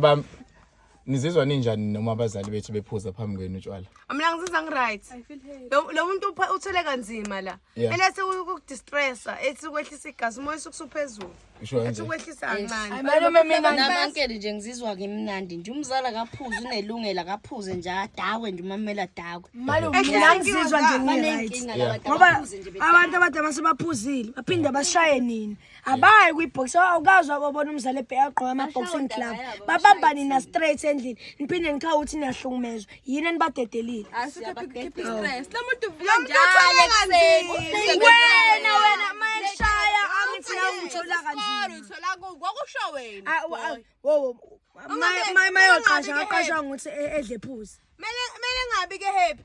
Bam nizizwa ninjani noma abazali bethu bephuza phambi kwenu utshwala? Mina ngizizwa ngiright. Lo lo muntu upha- uthwele kanzima la. Yeah. Ele sekukudistressa, ethi ukwehlisa igazi, umoya usukuphezulu. Usho Ethi kanje. ukwehlisa kancane. Malume mina namankele nje ngizizwa ngimnandi nje umzali akaphuze unelungelo akaphuze nje adakwe nje umamela adakwe malume Ehle, mina thank you, ngizizwa nje Zara. ngiright. banenkinga Yeah. laba ngoba abantu abadala basebaphuzile baphinde bashaye nini abayi kwi-box awukazi wakobona umzali ebheke agqoke ama-boxing club babamba nina straight endlini niphinde nikhawa ukuthi niyahlukumezwa yini enibadedelile wena wena mayeshaya angifuna ungithola kanzima mayoqasha aqashwa ngokuthi edle phuzi mele ngabi ke happy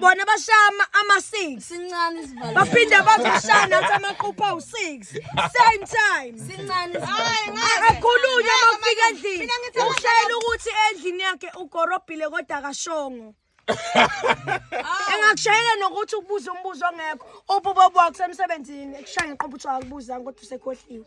bona bashama ama-six sincane isivalo baphinde bazoshaya nathi amaqupha awu-six same time sincane akhulunywe uma kufika endlini ushayela ukuthi endlini yakhe ugorobhile kodwa akashongo engakushayela nokuthi ukubuza umbuzo ongekho ububobwakho semsebenzini ekushaya ngeqobuthi akubuza ngokuthi usekhohliwe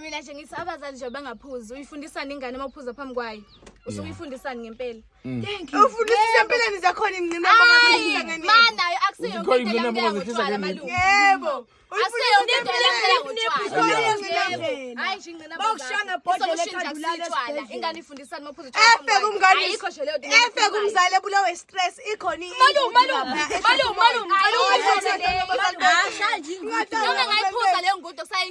mina nje ngithi abazali nje bangaphuzi uyifundisani ingane uma uphuza phambi kwayo usuke uyifundisani ngempela mm. ufundisisa empeleni zakhona ingcinamanayo akuseyontoyebo efe kumzali ebulawe stress ikhona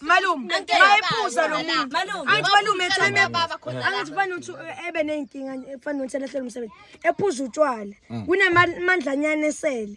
malume mayephuza lo muntu angithi malume etheme angithi fana ukuthi ebe ney'nkinga fana ukuthi alahlele umsebenzi ephuza utshwala kunamandlanyana esele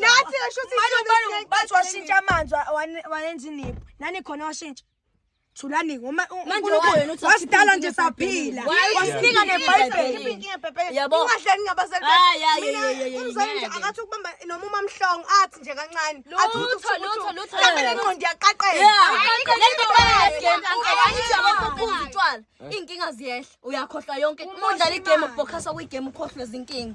nathi esho ukuthi Manje ikhona ubani esiyeke- bathi washintsha amanzi wa- wane- wayenza iniphu nani khona washintsha thulani ngoma u- Manje uNkulunkulu wayo nothi wasidala nje saphila Wayo wasinika uthi nebhayibheli Ikhiphe inkinga Pepe. Yabo. Ungahleki ngabazali Ah, bakho. yeah, Mina, yeah, yeah, yeah, umzali nje ngeke. akathi ukubamba noma umamhlongo athi nje kancane Lutho, Athi ukuthi uthi- lutho, uthi- lutho. Mhlawumbe le ngqondo iyaqaqela. iyaqaqela. iyinkinga ziyehla uyakhohlwa yonke uma udlala igame ubhokhasa kwigame ukhohlwe zinkinga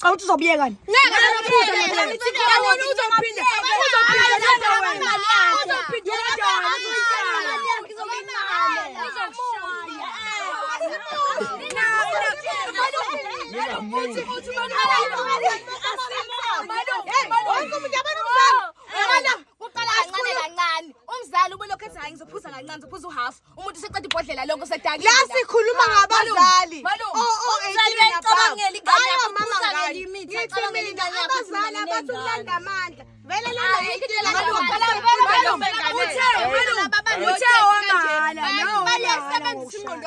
Cha uthi uzobuyeka ni? Ngeke uzophinde mina ngithi ngiyabona uzophinde. Umzali ubelokhu ethi hayi ngizophuza kancane, ngizophuza uhafu. umuntu seqeda ibhodlela lonke usedakile la sikhuluma ngabazali abazali abathi ukulanda amandla vele lalabalesebenzisa ingqondo